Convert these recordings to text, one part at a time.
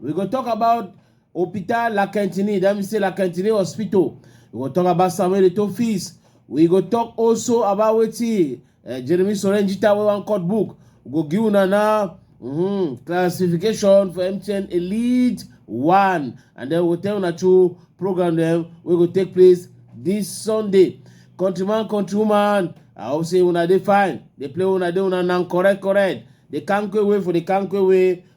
We go talk about Hopital La Quintinie, that means say La Quintinie Hospital. We go talk about Samuel Eto'o fees. We go talk also about wetin uh, Jeremy Sorenjita wey wan cut book. We go give una now mm, classification for MTN Elite One, and then we go tell una two program dem wey go take place this Sunday. Countryman, countrywoman, I hope say una dey fine. Dey play una dey una nan correct correct. Dey kanko away for the kanko away.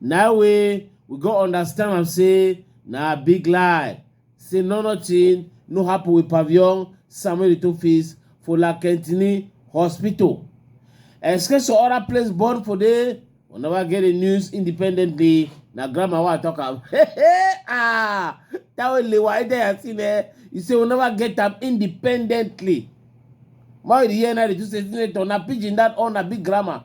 Now we we go understand am say na big lie. Say no nothing no happen with Pavillon Samuel Eto'o face for La Quintini Hospital. Excuse to other place born for there. We never get the news independently. Na grandma wa talk am. Hey, hey, ah, that way le wa ide ya sin eh. You say we never get am independently. Why the year na the two say na pidgin that on na big grammar.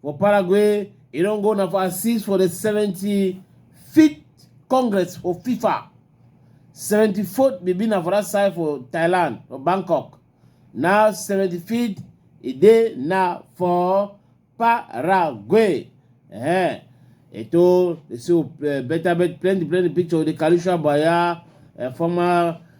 For Paraguay, e don go na for assist for the 75th Congress for FIFA. 74th be be na for that side for Thailand, for Bangkok. Now 75th e dey na for Paraguay. Eh, eto dey see uh, better bet plenty plenty picture with the Kalusha Baya, uh, former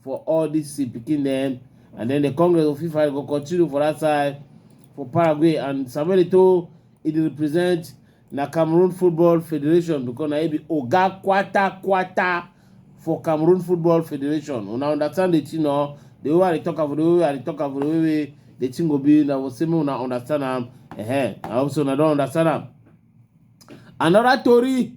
for all dis im pikin dem and then the congress of fifa go continue for dat side for paraguay and samuel eto'o e dey represent na cameroon football federation because na e be oga kwata kwata for cameroon football federation una understand the thing or the way i dey talk am for the way i dey talk am for the way wey the thing go be na go say make una understand am eh i hope say una don understand am another tori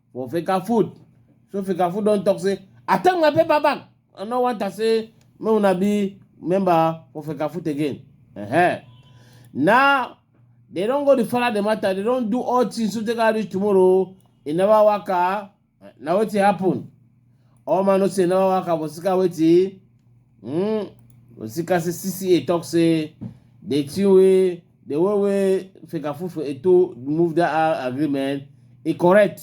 for fika food so fika food don talk say i take my paper back i no want am say make una be member for fika food again uh-huh. now they don go dey follow the matter they don do all things so take am reach tomorrow e never waka na wetin happen all man know say e never waka for sika wetin mm, for sika say cca talk say the thing wey the way wey fecafoot for eto move that uh, agreement e correct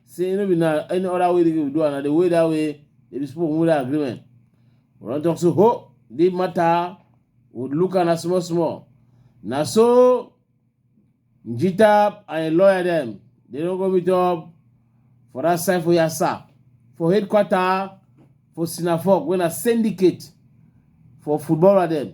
say no be na any other way they go do am na the way that way they be supposed move that agreement we don talk say ho the matter we look am na small small na so njita and im lawyer dem they don go meet up for that side for yasa for headquarter for sinafok wey na syndicate for footballer dem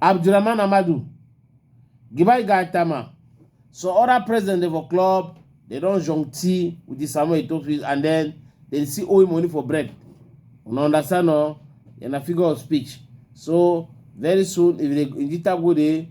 Abdulrahman Amadu, Gibai Gaitama, so other president dem for club they don jonti with the Samuel Eto'o and then they see owe money for bread. Una understand no? You're a figure of speech. So very soon if they in the go dey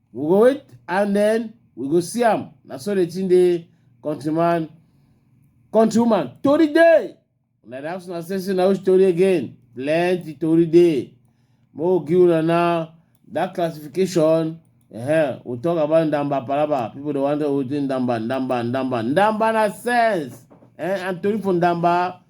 we go wait and then we go see am na so the thing dey countryman countrywoman tori dey una dey ask una say say na which tori again plenty tori dey mo give una now that classification uh-huh. we talk about ndamba palaba people dey wonder wetin ndamba ndamba ndamba ndamba na sense eh? and tori for ndamba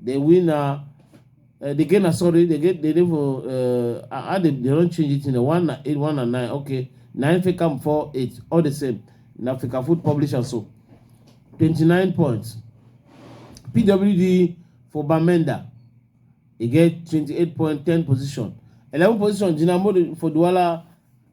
They win na uh, the game na sorry they get they dey for uh, how they they don change it in one na eight one na nine okay nine fit come four eight all the same na Africa Food Publisher so twenty nine points PWD for Bamenda e get twenty eight point ten position eleven position Jinamori for Douala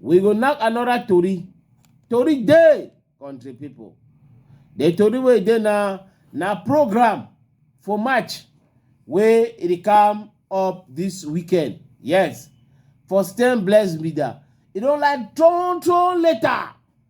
We go knack another tori. Tori dey, country pipo. The tori wey dey na na program for March wey e dey come up this weekend. Yes, for Stern Bless Media. E don like turn turn later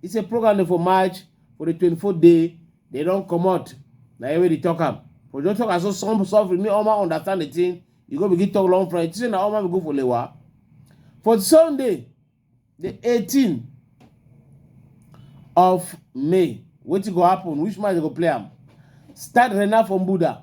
He say program dey for March for the 24th day they don comot na here wey dey talk am for just talk am so some suffering me Oma understand the thing you go begin talk long friend say na Oma we go for Lewa for Sunday the 18 of May wetin go happen which match they go play am start Rena from Buda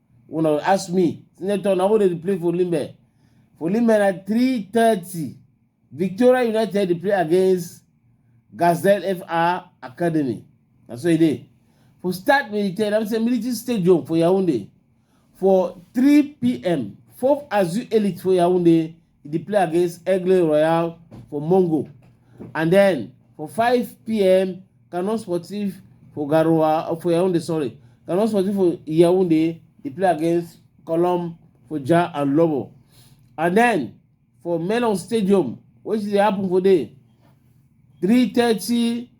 una ask me senator na who dey play for limbe for limbe na three thirty victoria united dey play against gazelle fr academy na so e dey for start military na say military stadium for yaounde for three pm fof azu elite for yaounde e dey play against Aigle Royal for Mongo. And then for 5 p.m. Canon Sportif for Garoua uh, for Yaoundé, sorry. Canon Sportif for Yaoundé, they play against Colom for Ja and Lobo. And then for Melon Stadium, which they happen for day, 3.30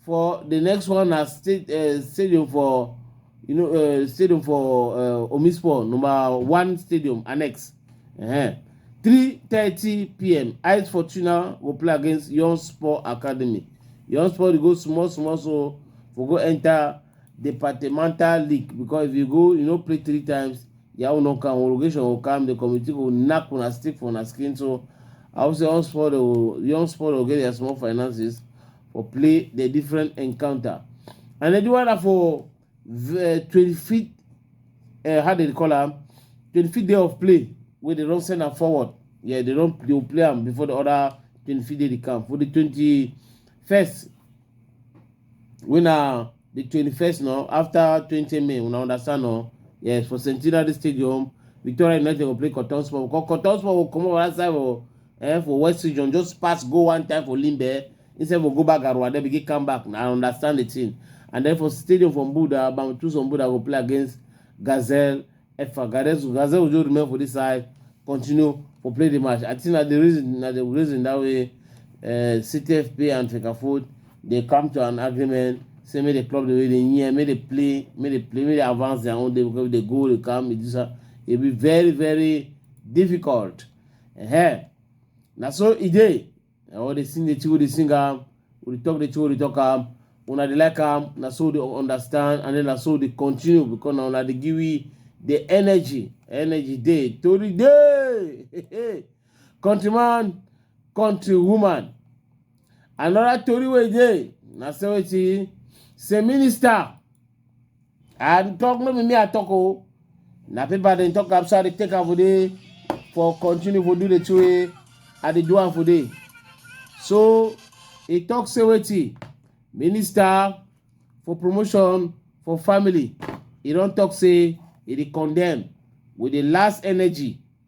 for the next one na state uh, stadium for you know uh, stadium for uh, omispor number one stadium annex uh-huh. 3:30 pm eyes fortuna go play against young sport academy young sport dey go small small so for go enter departmental league because if you go you no play three times your own no come homologation go come the committee go knack una stick for una skin so i hope say young sport go young sport go get their small finances for play the different encounter and then the one na for twenty fifth uh, how they dey call am twenty fifth day of play wey dey don send am forward yeah they don they go play am before the other twenty fifth day dey come for the twenty first wey na the twenty-first now after twenty may una understand now yes for centenary stadium victoria united go play cotton sport because cotton sport go comot for that side for eh, for west region just pass go one time for limbe instead for go back arua then begin come back na i understand the thing and then for stadium for mbuda bamtuso mbuda go play against gazelle Efa Gadezu Gaze Ojo remain for this side, continue for play the match. I think na the reason na the reason that way uh, CTFP and Fecafoot they come to an agreement say make the club the way they near, make they play, make they play, make they advance their own day because if they go, they come, it is a, it be very very difficult. Uh-huh. Na so e dey. Eh, all the sing the chigo the sing am we dey talk the chigo dey talk am una dey like am na so dey understand and then na so dey continue because na una dey give we the energy energy dey tori dey countryman countrywoman another tori wey dey na say wetin say minister I talk no be me I talk o. Na paper dem talk am so I dey take am for there for continue for do the two way I dey do am for there. So he talk say wetin minister for promotion for family he don talk say he dey condemn with the last energy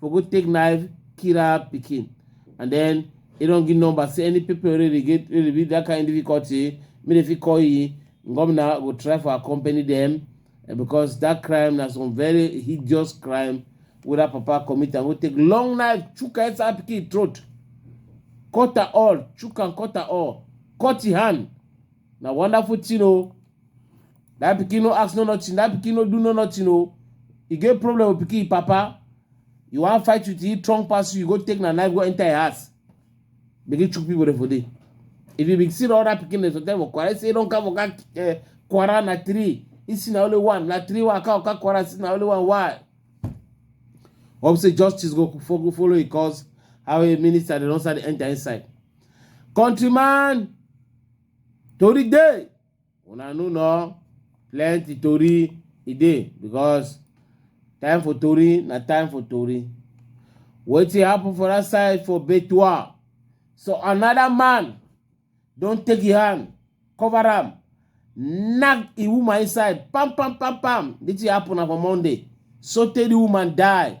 for go take knife kill her pikin and then e don give number say any people wey dey get wey dey be that kind difficulty make dem fit call e governor go try for accompany dem eh, because that crime na some very hideous crime wey that papa commit am go take long knife chook her inside her pikin throat cut her all chook am cut her all cut e hand na wonderful thing o that pikin no ask no nothing that pikin no do no nothing o e get problem with pikin papa you wan fight with him strong pass you you go take na knife go enter him house begin chook people dey for there if you be see the other pikin dey sometimes for kwara say e don come oga eh, kwara na three he see na only one na three waka oga kwara see na only one why hope say justice go fo- go follow him cause how a minister dey don start dey enter inside countryman tori dey una no know plenty tori e dey because time for tori na time for tori wetin happen for that side for betua so another man don take him hand cover am knack the woman inside pam pam pam pam the thing happen na for monday so tey the woman die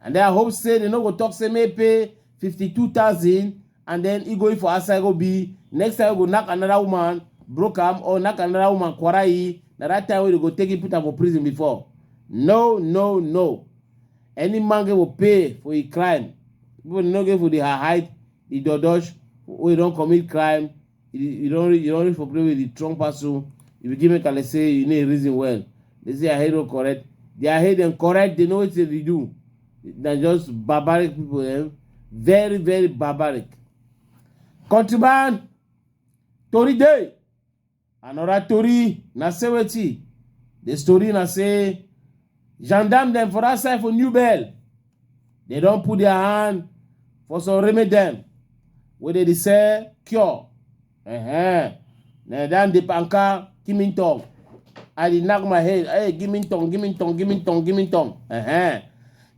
And then I hope say they no go talk say may pay 52,000 and then he going for outside go be next time we go knock another woman broke am or knock another woman kwarai na that time wey they go take him put am for prison before no no no any man go pay for a crime people no get for the hide the dodosh wey don commit crime You, you don't reach, you don't reach for play with the strong pass so if you give me kale say you need reason well. They say I hero correct. They are hate them correct, they know what they do. They're just barbaric people, eh? Very, very barbaric. Countryman, Tori Day, another Tori, na say wetin? The story na say Gendarme dem for that side for New Bell, they don put their hand for some remedy dem wey dey dey sell cure. Uh-huh. Na dan dey panka give me tongue. I dey knack my head. Hey, give me tongue, give me tongue, give me tongue, give me tongue. Uh-huh.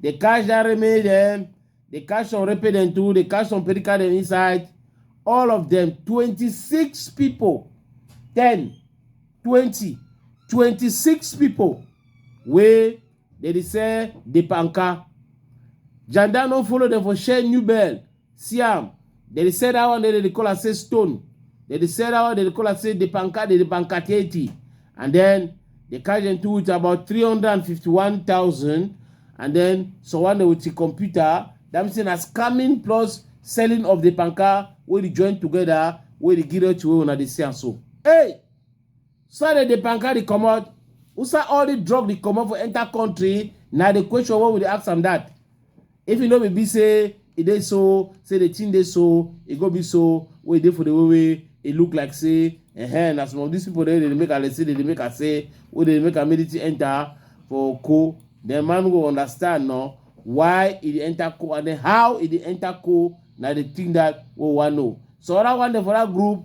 They catch that remedy dem. They catch some repe dem too. They catch some perica dem inside. All of them, 26 people, 10 twenty twenty six pipo wey dem dey sell di panka janda no follow dem for share new bell see am dem dey sell dat one dem dey call am say stone dem dey sell dat one dem dey call am say di panka di panka thirty and den dem carry dem two with about three hundred and fifty one thousand and den someone dem with di computer dat mean say na scamming plus selling of di panka wey dey join together wey dey give dem to wey una dey see am so. Hey, Sunday the banker the commode. Usa all the drug the commode for enter country. Now the question what would they ask him that? If you know me be say it dey so, say the thing dey so, it go be so, wait there for the way way it look like say and as some of these people they, they make a say they make a say where they make a military enter for co. The man go understand no why it enter co and then how it enter co. Now the thing that we want know. So I want for that group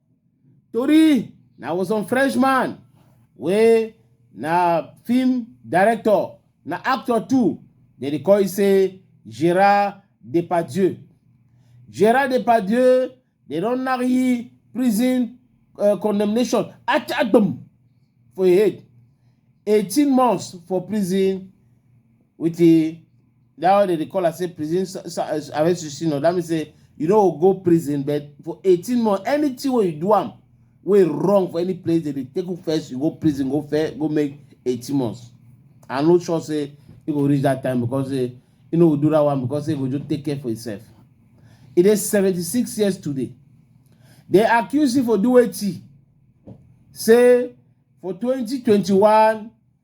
Tori na was on Frenchman wey na film director na actor too dem dey call you say Gerard Depardieu. Gerard Depardieu dey don knack you prison uh, condemnation at atom for your head. 18 months for prison with the that one dem dey call am say prison sa- sa- eh, arrest suspension that mean say you no go go prison but for eighteen months anything wey you do am wey wrong for any place dem dey take you first you go prison go fair go make eighteen months i no sure say e go reach that time because eh, e no go do that one because e go just take care for himself e dey seventy-six years today dem accuse him for do wetin say for twenty twenty-one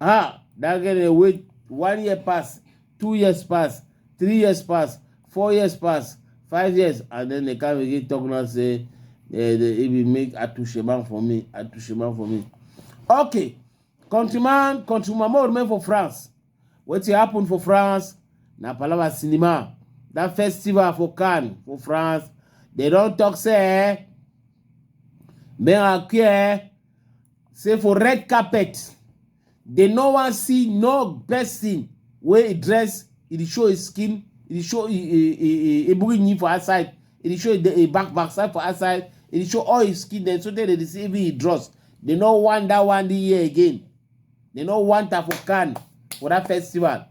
ha that girl dey wait one year pass two years pass three years pass four years pass five years and then they come again talk now say eh, they e be make atushema for me atushema for me okay countryman countryman more remain for france wetin happen for france na palava cinema that festival for cannes for france they don talk say eh, men are queer say for red carpet dem no wan see no person wey e dress e dey show his skin e dey show e ebughi for outside e dey show e back back side for outside e dey show all his skin dem so tey dem dey see even his dross dem no wan that one dey here again They no want her for Cannes for that festival.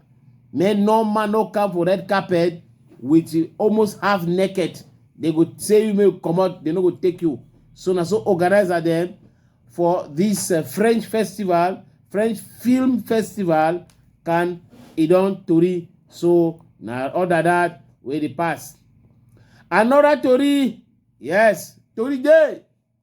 Make no man no come for red carpet with you almost half naked. They go say you may come out, they no go take you. So na so organizer them for this uh, French festival, French film festival, can e don tori. So na other that wey dey pass. Another tori, yes, tori dey.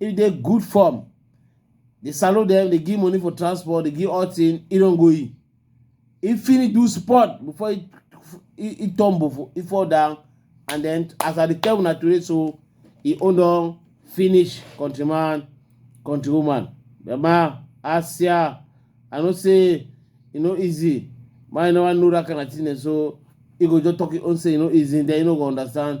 if you dey good form dey salute dem dey give money for transport dey give all thing e don go e e finish do sport before e e e tumble for e fall down and then as i dey tell una today so e own don finish countryman countrywoman mama asia i know say e no easy man you never know that kind of thing dem so e go just talk e own say e no easy then you no go understand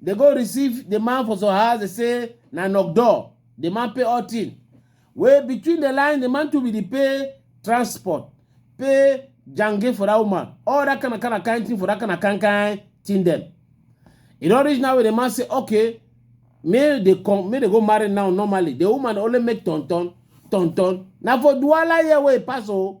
They go receive the man for some house, they say, na knock door. The man pay all thing. Where between the line, the man to be the pay transport, pay jange for that woman, all that kind of kind of kind thing for that kind of kind kind thing them. You don't reach now where the man say, okay, may they come, may they go marry now normally. The woman only make ton ton, ton ton. Now for Duala here where it pass oh,